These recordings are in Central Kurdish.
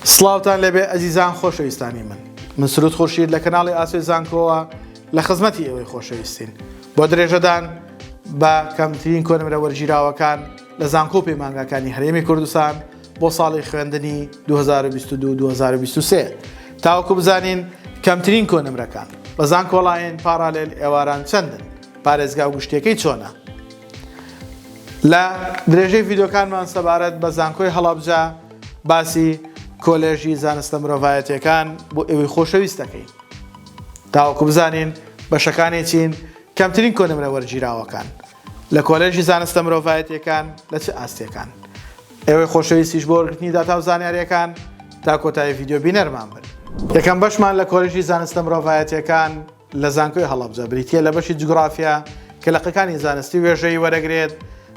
سڵاوتان لێبێ ئەزیزان خۆشەویستانی من من سرود خورشید لە کەناڵی ئاسۆی زانکۆوە لە خزمەتی ئێوەی خۆشەویستین بۆ درێژەدان بە کەمترین کۆنمرە وەرگیراوەکان لە زانکۆ و پەیمانگاکانی هەرێمی کوردستان بۆ ساڵی خوێندنی 2022 2023 تاوەکو بزانین کەمترین کۆنمرەکان بە زانکۆڵاین پاڕالێل ئێواران چەندن پارێزگا و گشتیەکەی چۆنە لە درێژەی ڤیدۆکانمان سەبارەت بە زانکۆی هەڵەبجە باسی کۆلێژی زانستە مرۆڤایەتیەکان بۆ ئێوەی خۆشەویست دەکەین تاوەکو بزانین بەشەکانی چین کەمترین کۆنمرە وەرگیراوەکان لە کۆلێژی زانستە مرۆڤایەتیەکان لە چ ئاستێکان ئێوەی خۆشەویستیش بۆ وەرگرتنی داتا و زانیاریەکان تا کۆتایی ڤیددیو بینەرمان بن یەکەم بەشمان لە کۆلژی زانستە مرۆڤایەتەکان لە زانکۆی هەڵەبجە بریتییە لە بەشی جوگرافیا کە لە قەکانی زانستی وێژەیی وەرەگرێت،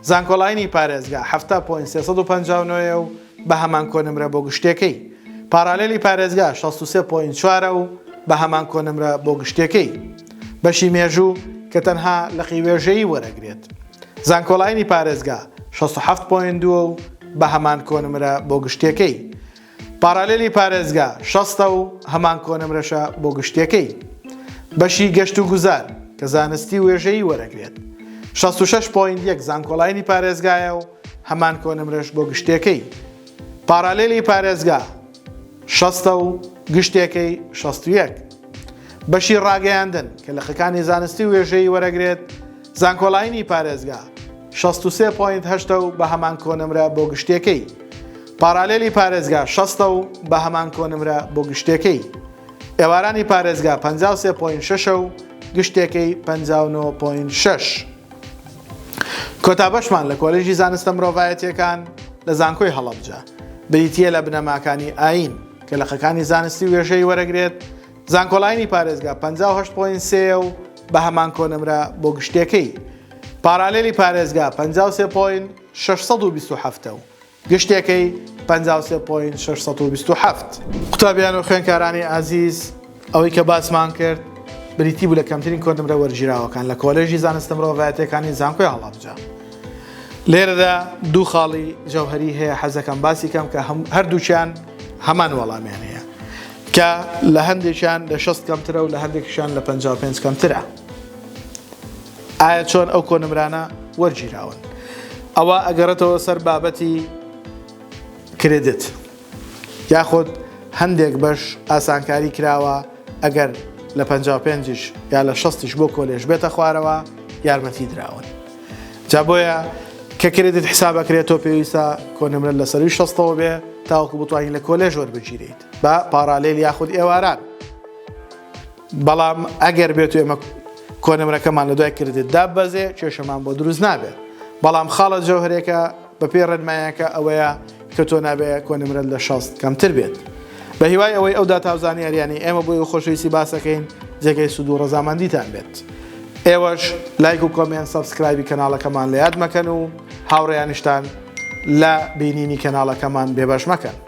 زانکۆلاینی پارێزگا حەفتا پۆینت سێ سەد و پەنجا و نۆ یە و بە هەمان کۆنمرە بۆ گشتیەکەی، پارالێلی پارێزگا شەست و سێ پۆینت چوار ە و بە هەمان کۆنمرە بۆ گشتیەکەی. بەشی مێژوو کە تەنها لقی وێژەیی وەرەگرێت، زانکۆلاینی پارێزگا شەست و حەفت پۆینت دوو ە و بە هەمان کۆنمرە بۆ گشتیەکەی. پارالێلی پارێزگا شەستە و هەمان کۆنمرەشە بۆ گشتیەکەی بەشی گەشت و گوزار کە زانستی وێژەیی وەرەگرێت شەست و شەش پۆینت یەک زانکۆڵاینی پارێزگایە و هەمان کۆنمرەش بۆ گشتیەکەی پارالێلی پارێزگا شەستە و گشتیەکەی شەست و یەک بەشی ڕاگەیاندن کە لەقەکانی زانستی وێژەیی وەرەگرێت زانکۆلاینی پارێزگا شەست و سێ پۆینت هەشتە و بە هەمان کۆنمرە بۆ گشتیەکەی پارالیلی پارێزگا شەستە و بە هەمان کۆنمرە بۆ گشتیەکەی ئێوارانی پارێزگا پەنجا و سێ پۆینت شەشە و گشتیەکەی پەنجا و نۆ پۆینت شەش. کۆتا بەشمان لە کۆلێژی زانستە مرۆڤایەتیەکان لە زانکۆی هەڵەبجە بریتییە لە بنەماکانی ئایین کە لقەکانی زانستی وێژەی وەرەگرێت، زانکۆلاینی پارێزگا پەنجا و هەشت پۆینت سێ یە و بە هەمان کۆنمرە بۆ گشتێکەی پارالێلی پارێزگا پەنجا و سێ پۆینت شەش سەد و بیست و حەفت ە و گشتێکەی پەنجا و سێ پۆینت شەش سەد و بیست و حەفت. قوتابیان و خوێندکارانی ئازیز، ئەوەی کە باسمان کرد بریتی بوو لە کەمترین کۆنمرە وەرگیراوەکان لە کۆلێژی زانستە مرۆڤایەتییەکانی زانکۆی هەڵەبجە. لێرەدا دوو خاڵی جەوهەری هەیە حەزدەکەم باسی کەم کە هەردووکیان هەمان وەڵامیان هەیە. کە لە هەندێکیان لە شەست کەمترە و لە هەندێکیشان لە پەنجا و پێنج کەمترە ئایا چۆن ئەو کۆنمرانە وەرگیراون ئەوە ئەگەڕێتەوە سەر بابەتی کرێدت یاخود هەندێک بەش ئاسانکاری کراوە ئەگەر لە 55 یا لە 6 بۆ کۆلێژ بێتە خوارەوە یارمەتی دراون جا بۆیە کە کرێدت حسابەکرێت تۆ پێویستە کۆنمرە لە سەروی شەستەوە بێ تاوەکو بتوانین لە کۆلێژ وەربگیریت بە پاڕالێل یاخود ئێواران بەڵام ئەگەر بێت ئێمە کۆنمرەکەمان لە دوای کردێت دابەزێ کێشەمان بۆ دروست نابێت بەڵام خاڵە جەوهرێکە بە پێ ڕێنمایەکە ئەوەیە کە تۆ نابێ کۆنمرەت لە شەست کەمتر بێت بە هیوای ئەوەی ئەو داتاوزانی ئەریانی ئێمە بۆی و خۆشەویستی باسەکەین جێگەی سوود و ڕزامەندیتان بێت ئێوەش لایک و کۆمێن سەبسکرایبی کەناڵەکەمان لە یاد مەکەن و هاوڕێیانشتان لە بینینی کەناڵەکەمان بێبەش مەکەن